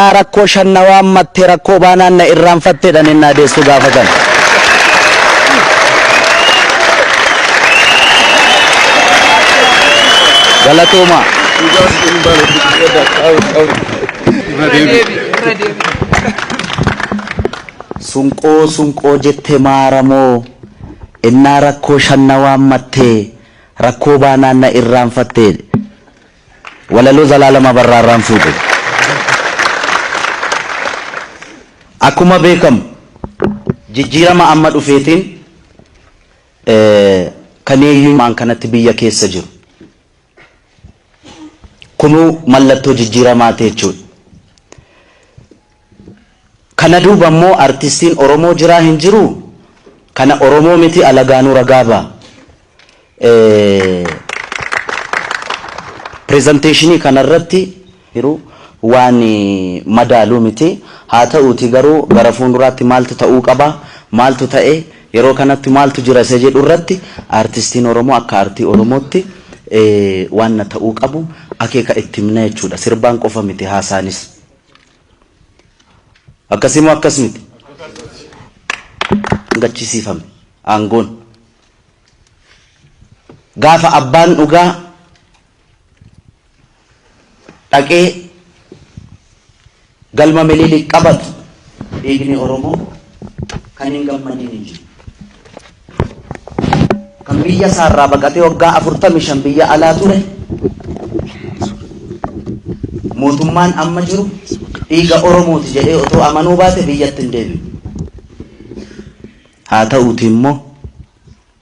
Yaa rakkoo shan na waammatte rakkoo baanaan na irraanfatte jedhanii ennaa deessuu gaafatan. Galatoomaa. Sunqoo sunqoo jette maaramoo ennaa rakkoo shan na waammatte rakkoo baanaan na irraanfatte jedhe. Walaloo Zalaalam Abarraa irraan fuudhe. Akkuma beekamu jijjiirama amma dhufeetiin kan hiyyummaan kanatti biyya keessa jiru kunuu mallattoo jijjiiramaati jechuudha. Kana duuba immoo artistiin Oromoo jiraa hin jiruu? Kana Oromoo miti alagaanuu ragaa ba'a. Presentation kana irratti jiru waan madaalu miti. Haa ta'uutii garuu gara fuunduraatti maaltu ta'uu qaba, maaltu ta'e, yeroo kanatti maaltu jira isa jedhu irratti artistiin Oromoo akka artii Oromootti waanna ta'uu qabu akeeka itti himna jechuudha. Sirbaan qofa miti haasaanis. Akkasii moo akkas miti? Gachisiifame aangoon. Gaafa abbaan dhugaa dhaqee galma Minilik qabatu dhiigni Oromoo kan hin gammadin hin jiru. kan biyya isaarraa baqatee waggaa afurtamii shan biyya alaa ture mootummaan amma jiru dhiiga Oromooti jedhee otoo amanuu baate biyyatti hin deebi'u. Haa ta'uuti immoo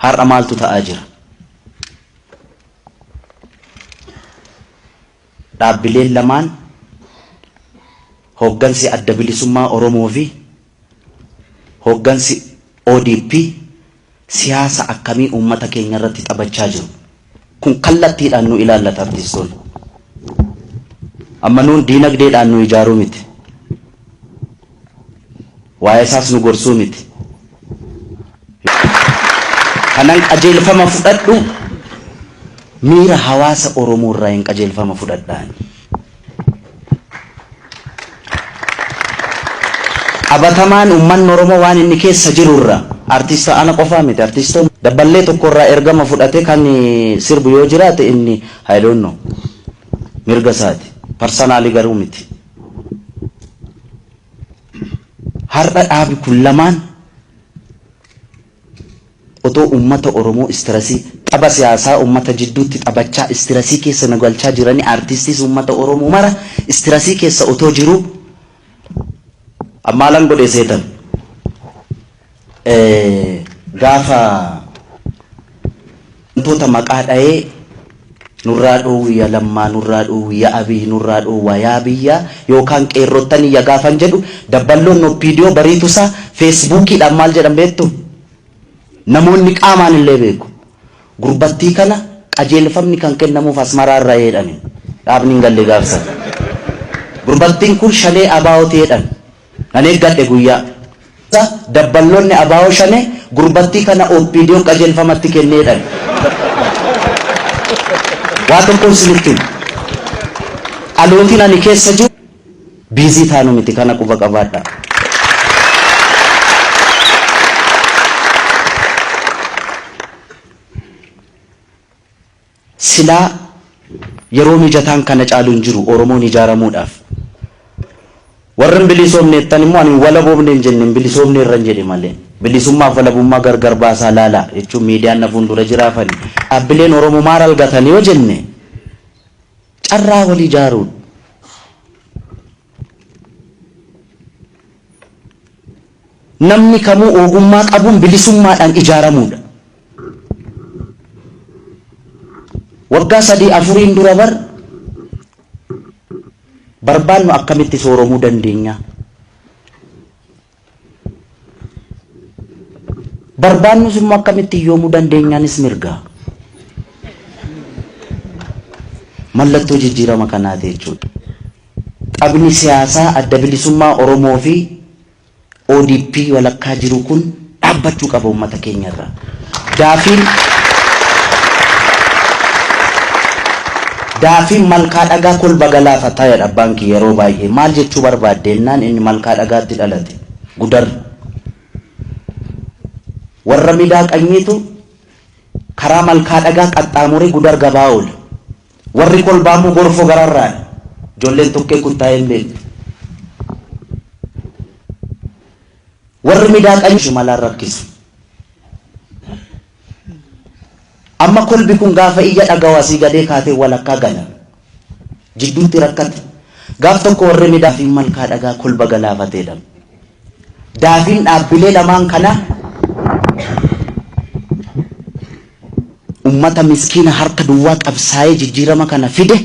har'a maaltu ta'aa jira? Dhaabbileen lamaan hooggansi Adda Bilisummaa Oromoo fi hooggansi ODP siyaasa akkamii uummata keenya irratti taphachaa jiru? Kun kallattiidhaan nu ilaallata artiistoonni. Amma nuun diinagdeedhaan nu ijaaruu miti. Waa'ee isaas nu gorsuu miti. Kanan qajeelfama fudhadhu miira hawaasa Oromoo irraayin qajeelfama fudhadha ani. Qabatamaan uummanni Oromoo waan inni keessa jiru irra artiist ana qofaa miti artiistoon dabballee tokko irraa ergama fudhatee kan sirbu yoo jiraate inni I don't know mirga isaati. Parsanaalii garuu miti. Har'a dhaabi kun lamaan otoo ummata Oromoo istirasii tapha siyaasaa ummata jidduutti taphachaa istirasii keessa nu galchaa jiranii artiistiis ummata Oromoo mara istirasii keessa otoo jiruu an maalan godhe seetan? Gaafa wantoota maqaa dhayee nurraa dhoowwi ya lammaa nurraa dhoowwi ya abiy nurraa dhoowwaa yaa biyyaa yookaan qeerrottanii ya gaafan jedhu dabballoonni opdo bariitu isaa feesbuukiidhaan maal jedhan beektu namoonni qaamaan illee beeku gurbattii kana qajeelfamni kan kennamuuf asmaraa irraa jedhani dhaabni hin galle gaafsan gurbattiin kun shanee abaa'ooti jedhan Nan eeggadhe guyyaa. Isa dabballoonni abo Shanee gurbattii kana OPDOn qajeelfama itti kenne jedhan. Waa tokkon sinitti hima. Dhalootiin ani keessa jiru busy taanu miti kana quba qabaadhaa. Silaa yeroo mijataan kana caalu hin jiru Oromoon ijaaramuudhaaf. Warri hin bilisoomne jettan immoo ani hin walaboomne hin jenne hin bilisoomneerran jedhe malee. Bilisummaaf walabummaa gargar baasaa laalaa jechuun miidiyaan na fuundura jira afani dhaabbileen Oromoo maal algatan yoo jenne carraa wal ijaaruu. Namni kamuu oogummaa qabuun bilisummaadhaan ijaaramuudha. Waggaa sadii afuriin dura bar barbaannu akkamitti sooromuu dandeenya? Barbaannus immoo akkamitti hiyyoomuu dandeenyaanis mirga. Mallattoo jijjiirama kanaati jechuudha. Taphni siyaasaa adda bilisummaa Oromoo fi ODP walakkaa jiruu kun dhaabbachuu qaba ummata keenya irraa. Daafiin Daafiin malkaa dhagaa kolba galaafataa jedha abbaan kiyya yeroo baay'ee. Maal jechuu barbaadde jennaan inni malkaa dhagaatti dhalate. Gudar. Warra midaa qanyiitu karaa malkaa dhagaa qaxxaamuree gudar gabaa oole. Warri kolbaa immoo gorfoo gararraani. Ijoolleen tokkee kuttaa'ee hin beektu. Warri midaa qanyoo shimalaan rakkisu. Amma kolbi kun gaafa iyya dhagahu asii gadee kaatee walakkaa gala. Jidduutti rakkate. Gaaf tokko warri midaa daafiin malkaa dhagaa kolba galaafatee dhabe. Daafiin dhaabbilee lamaan kanaa ummata miskiina harka duwwaa qabsaa'ee jijjiirama kana fide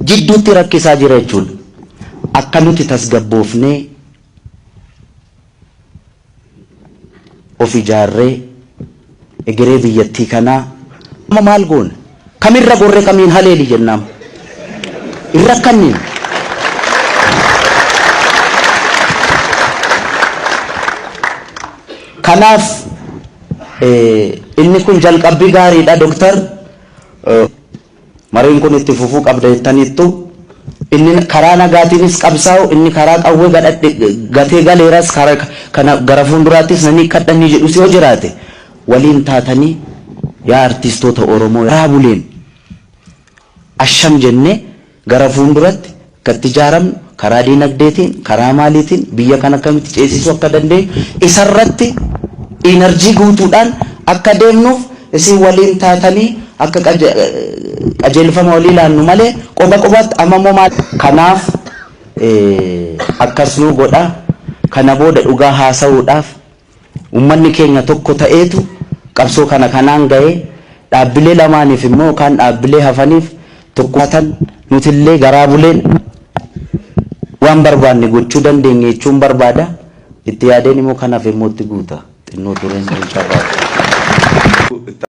jidduutti rakkisaa jira jechuudha. Akka nuti tasgabboofnee of ijaarree egeree biyyattii kanaa amma maal goona? Kam irra gorre kamiin haleeli jennaam. Hin rakkanniin. Kanaaf inni kun jalqabbii gaariidha Doktar. Mariin kun itti fufuu qabda jettaniittu. Inni karaa nagaatiinis qabsaa'u, inni karaa qawwee gadhadhe gatee galeeras kara kana gara fuulduraattis nan hiikkadha inni jedhus yoo jiraate waliin taatanii yaa artiistoota Oromoo raa buleen asham jennee gara fuunduratti akka itti ijaaramnu karaa diinagdeetiin karaa maaliitiin biyya kana akkamitti ceesisuu akka dandeenyu isarratti iinarjii guutuudhaan akka deemnuuf isin waliin taatanii akka qajeelfama walii laannu malee qoba qobaatti amma immoo maal kanaaf akkas nuu godhaa kana booda dhugaa haasa'uudhaaf Ummanni keenya tokko ta'eetu qabsoo kana kanaan gahe. Dhaabbilee lamaaniif immoo yookaan dhaabbilee hafaniif tokkummaa tan nuti illee garaa buleen waan barbaanne gochuu dandeenye jechuun barbaada. Itti yaadeen immoo kan hafe immoo itti guuta. Xinnoo tureen sun carraa ture.